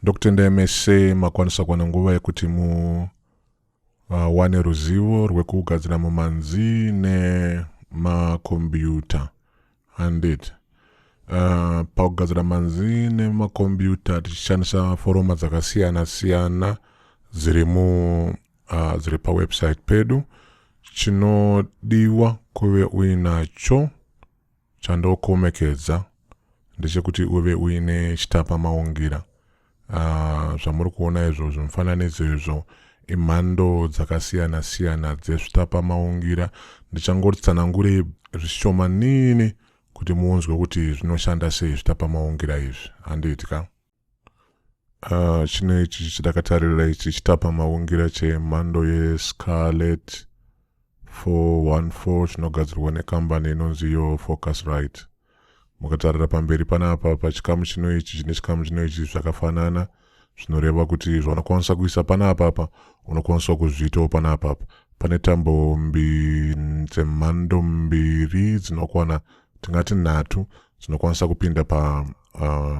ndokutendai mese makwanisa kuwana nguva yekuti mu uh, wane ruzivo rwekugadzira mumanzi nemakombiyuta handiti uh, pakugadzira manzi nemakombiyuta tichishandisa foroma dzakasiyana siyana dziri mu uh, dziri pawebsite pedu chinodiwa kuve uinacho chandokomekedza ndechekuti uve uine chitapa maungira Ah, zvamuri uh, kuona izvo zvimufananidzo izvo imhando dzakasiyana siyana dzezvitapamaungira ndichangotsanangure zvishomanini kuti muunzwe kuti zvinoshanda sei zvitapamaungira izvi handiti ka uh, chino ichi chidakatarira ichi chitapamaungira chemhando yescarlet 414 chinogadzirwa nekambani inonzi yo focus right mukatarira pamberi panapa pachikamu chino ichi chine chikamu chino ichi zvakafanana zvinoreva kuti zvaunokwanisa kuisa pana apapa unokwanisa kuzviitawo pana apapa pane tambo dzemhando mbiri dzinokwana tingati nhatu dzinokwanisa kupinda pa uh,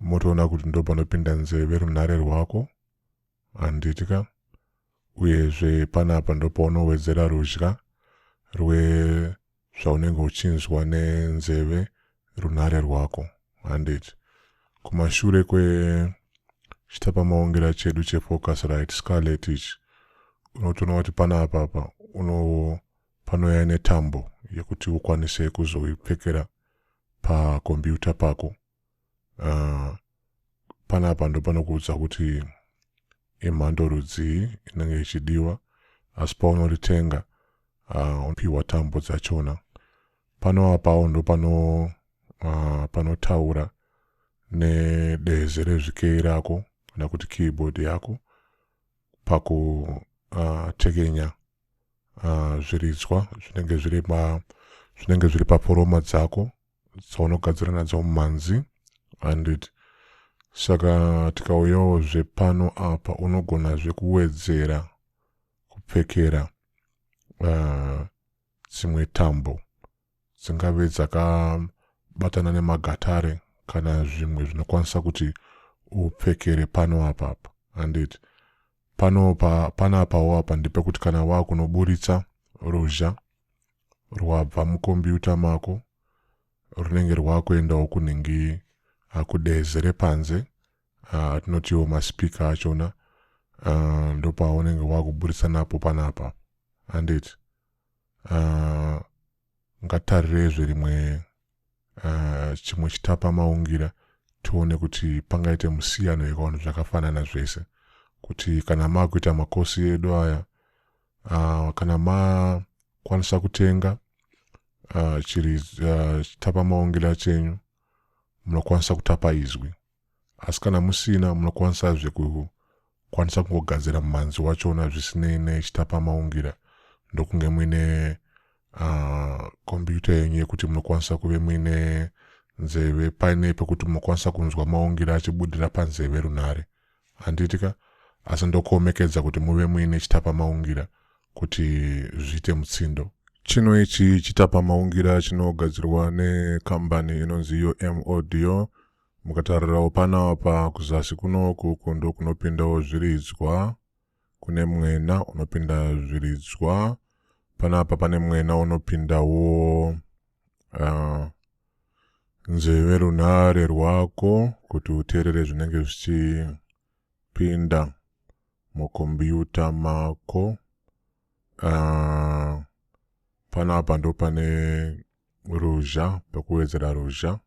motoona kuti ndopanopinda nzeve runhare rwako handiti ka uyezve panapa ndopaunowedzera rudya rwezvaunenge uchinzwa nenzeve runhare rwako handiti kumashure kwechitapamaongera chedu chefocus right scarlet ichi unotoona kuti panapapa uno panoya netambo yekuti ukwanise kuzoipfekera pakombiyuta pako uh, panapa ndopanokuudza kuti imhando rudzii inenge ichidiwa asi paunoritenga uh, unopiwa tambo dzachona pano apawo ndopano uh, panotaura nedeze rezvikei rako kana kuti keyboard yako pakutekenya uh, uh, zviridzwa zvinenge zviri pa zvinenge zviri paforoma dzako dzaunogadzira nadzo mumhanzi handiti saka tikauyawo zvepano apa unogona zvekuwedzera kupfekera ah, dzimwe uh, tambo dzingave dzakabatana nemagatare kana zvimwe zvinokwanisa kuti upfekere pano apa apa handiti pano pa, pana apawo apa ndepekuti kana wakunoburitsa ruzha rwabva mukombiyuta mako runenge rwakuendawo kunenge ah, kudeze repanze atinotiwo ah, maspika achona ah, ndopaunenge wakuburitsa napo panapa handiti ngatarireizve rimwe uh, chimwe chitapa maungira tione kuti pangaite musiyano here kavanhu zvakafanana zvese kuti kana makuita makosi edu aya uh, kana makwanisa kutenga uh, chiri uh, chitapa maungira chenyu munokwanisa kutapa izwi asi kana musina munokwanisazve kukwanisa kungogadzira mumhanzi wachona zvisinei nechitapamaungira ndokunge muine ah, kombiyuta uh, yenyu yekuti munokwanisa kuve muine nzeve paine pekuti munokwanisa kunzwa maungira achibudira panzeve runhare handiti ka asi ndokuomekedza kuti muve muine chitapamaungira kuti zviite mutsindo chino ichi chitapamaungira chinogadzirwa nekambani inonzi yo modio Mukatarirawo pano apa kuzasi kuno ukuku ndokunopindawo zviridzwa kune mwena unopinda zviridzwa panapa pane mwena unopindawo uh, nzeve runhare rwako kuti uteerere zvinenge zvichipinda mukombiyuta mako uh, panapa ndo pane ruzha pekuwedzera ruzha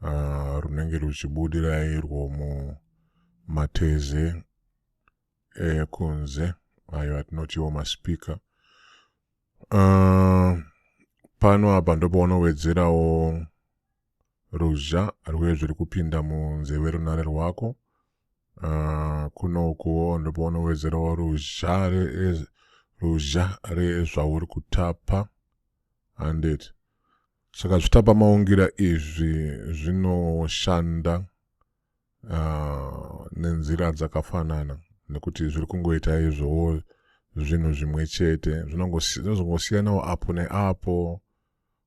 uh, runenge ruchibudira irwo mumateze ekunze ayo atinotiwo maspika uh, ah, pano apa ndopaunowedzerawo ruzha rwuye zviri kupinda munzeve runare rwako uh, kuno ukuwo ndopaunowedzerawo ruzha ruzha rezvauri kutapa handiti Saka zvitapamaungira izvi zvinoshanda uh, nenzira dzakafanana nekuti zviri kungoita izvowo zvinhu zvimwe chete zvinozongosiyanawo apo neapo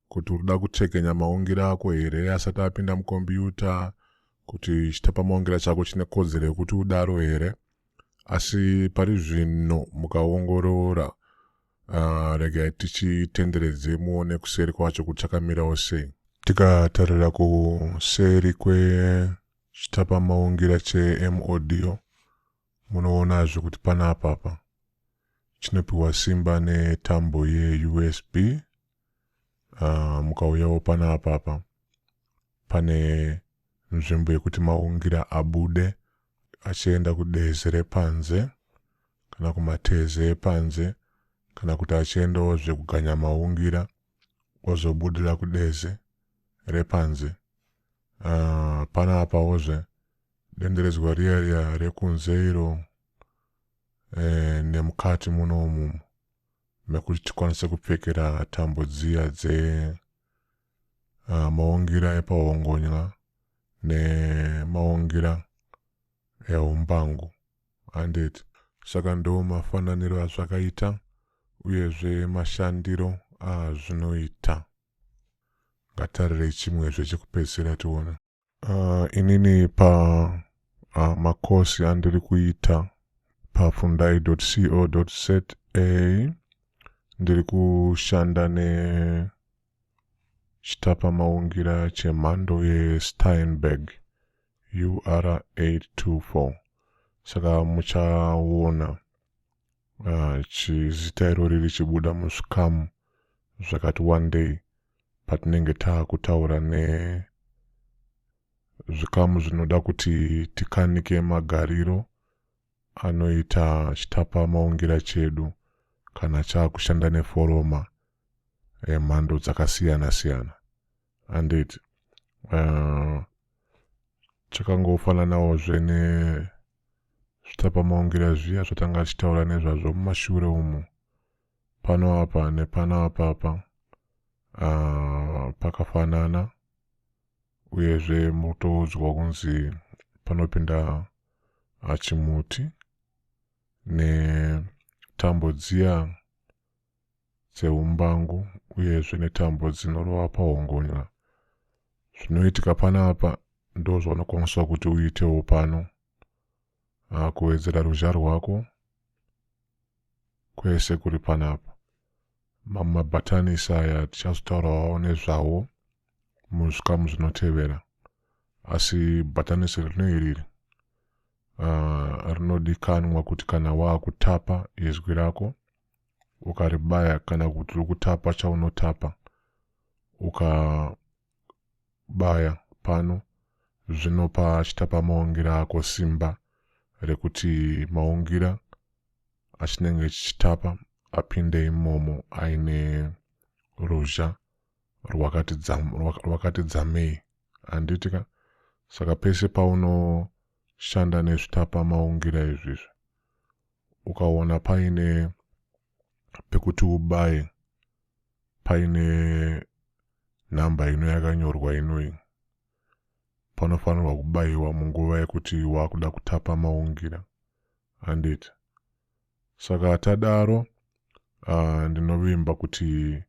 kuti uri kuda kuchekenya maungiro ako here asati apinda mukombiyuta kuti chitapamaungira chako chine kodzero yekuti udaro here asi pari zvino mukaongorora Uh, regai tichitenderedze muone kuseri kwacho kuti chakamirawo sei tikatarira kuseri kwechitapamaungira chemodio munoonazve kuti pana apapa chinopiwa simba netambo yeusb uh, mukauyawo pana apapa pane nzvimbo yekuti maungira abude achienda kudezi repanze kana kumatezi epanze kana kuti achiendawo zvekuganya maungira ozobudira kudezi repanze uh, pana apawozve denderedzwa riya riya rekunze iro eh, nemukati muno umumu mekuti tikwanise kupfekera tambo dziya dze uh, maungira epahongonya nemaungira ehumbangu handiti saka ndo mafananiro azvakaita uyezve mashandiro azvinoita ngatarirei chimwezve chekupedzisira tione Uh, inini pa uh, makosi andiri kuita pafundai co za ndiri kushanda nechitapamaungira chemhando yesteinberg ur 824 saka muchaona uh, chizita irori richibuda muzvikamu zvakati wandei patinenge taakutaura nezvikamu zvinoda kuti tikanike magariro anoita chitapa maungira chedu kana chaakushanda neforoma emhando eh, dzakasiyana siyana anditi uh, chakangofananawo zvene zvitapamaungira zviya zvatanga tichitaura nezvazvo mumashure umu pano apa nepano apapa uh, pakafanana uyezve mutoudzwa kunzi panopinda achimuti netambo dziya dzeumbangu uyezve netambo dzinorova pahongonya. Zvinoitika panapa ndozvaunokwaniswa kuti uitewo pano. Ah, kuwedzera ruzha rwako kwese kuri panapa. Mamwe mabhatanisi aya tichazotaurawo nezvawo muzvikamu zvinotevera. Asi bhatanisi rino iriri ah, rinodikanwa kuti kana waakutapa izwi rako ukaribaya kana kuti lokutapa chaunotapa ukabaya pano zvinopa chitapa maungira ako simba rekuti maungira achinenge chichitapa apinde imomo aine ruzha rwakati dzamei handiti ka saka pese paunoshanda nezvitapa maungira izvizvi ukaona paine pekuti ubaye paine nhamba ino yakanyorwa inoyi panofanirwa kubayiwa munguva yekuti wakuda kutapa maungira handiti saka tadaro uh, ndinovimba kuti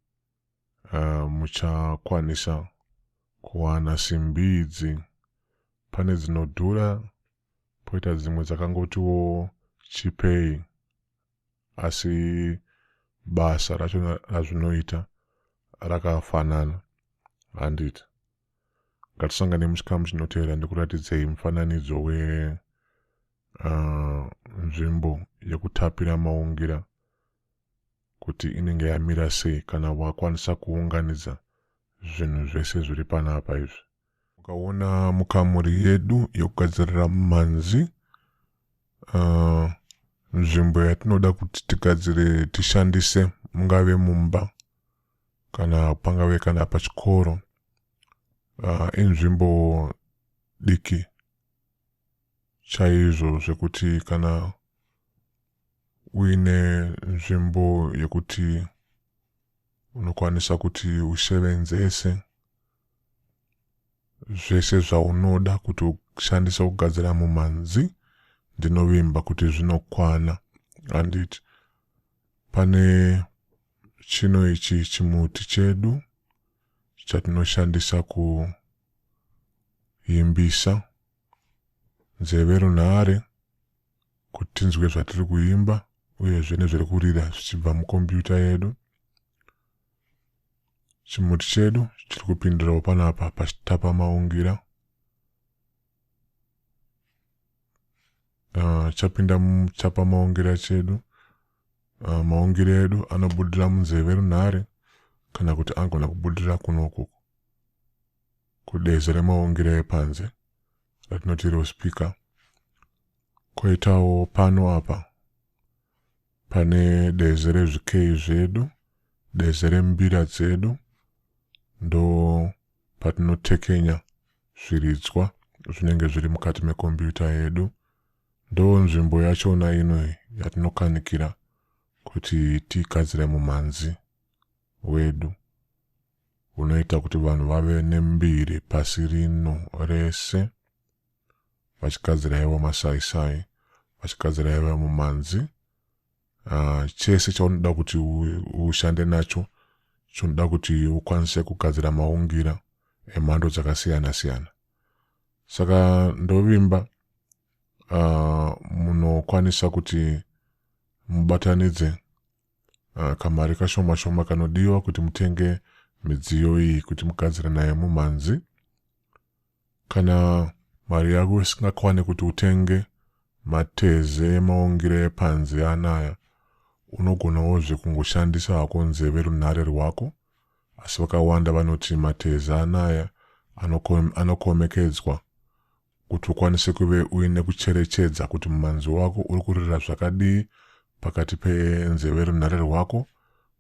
uh, muchakwanisa kuwana simbi idzi pane dzinodhura poita dzimwe dzakangotiwo chipei asi basa racho razvinoita rakafanana handiti ngatisangane muchikamu chinotevera ndikuratidzei mufananidzo we uh, nzvimbo yekutapira maungira kuti inenge yamira sei kana wakwanisa kuunganidza zvinhu zvese zviri panapa izvi Ukaona mukamuri yedu yokugadzirira mumhanzi, uh, nzvimbo yatinoda kuti tigadzire tishandise mungave mumba kana pangave kana pachikoro uh, inzvimbo diki chaizvo zvekuti kana uine nzvimbo yekuti unokwanisa kuti usevenzese zvese zvaunoda kuti ushandise kugadzira mumhanzi ndinovimba kuti zvinokwana handiti pane chino ichi chimuti chedu chatinoshandisa kuimbisa nzeve runhare kuti tinzwe zvatiri kuimba uyezve nezviri kurira zvichibva mukombiyuta yedu chimuti chedu chiri kupindirawo panapa pachitapa maungira uh, chapinda muchapa maungira chedu uh, maungira edu anobudira munzeve runhare kana kuti angona kubudira kunoku kudezi remaungira epanze ratinoti rospeaker koitawo pano apa Pane deze rezvikeyi zvedu, deze rembira dzedu ndo patinotekenya zviridzwa zvinenge zviri mukati mekombiyuta yedu. Ndo nzvimbo yachona ino yatinokanikira kuti tigadzire mumhanzi wedu unoita kuti vanhu vave nembiri pasi rino rese. vachigadzira yavo masaisai vachigadzira yavo mumanzi uh, chese chaunoda kuti ushande nacho chinoda kuti ukwanise kugadzira maungira emhando dzakasiyana siyana saka ndovimba uh, munokwanisa kuti mubatanidze uh, kamari kashoma shoma kanodiwa kuti mutenge midziyo iyi kuti mugadzire nayo mumhanzi Kana mari yako isingakwane kuti utenge mateze emaungira epanze anaya, unogonawozve kungoshandisa hako nzeve runhare rwako, asi vakawanda vanoti mateze anaya anokomekedzwa kuti ukwanise kuve uine kucherechedza kuti mumanzwi wako uri kurira zvakadii pakati penzeve runhare rwako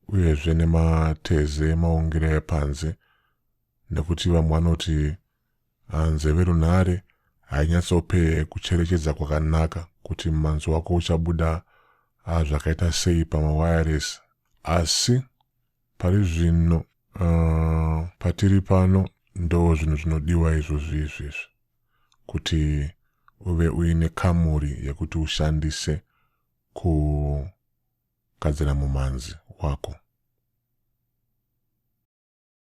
uyezve nemateze emaungira epanze nekuti vamwe vanoti ah, nzeve runhare hainyatsope kucherechedza kwakanaka kuti manzwi wako uchabuda ah, zvakaita sei pamawireless asi pari zvino uh, patiri pano ndo zvinhu zvinodiwa izvozvi izvezvi kuti uve uine kamuri yekuti ushandise kugadzira mumanzi wako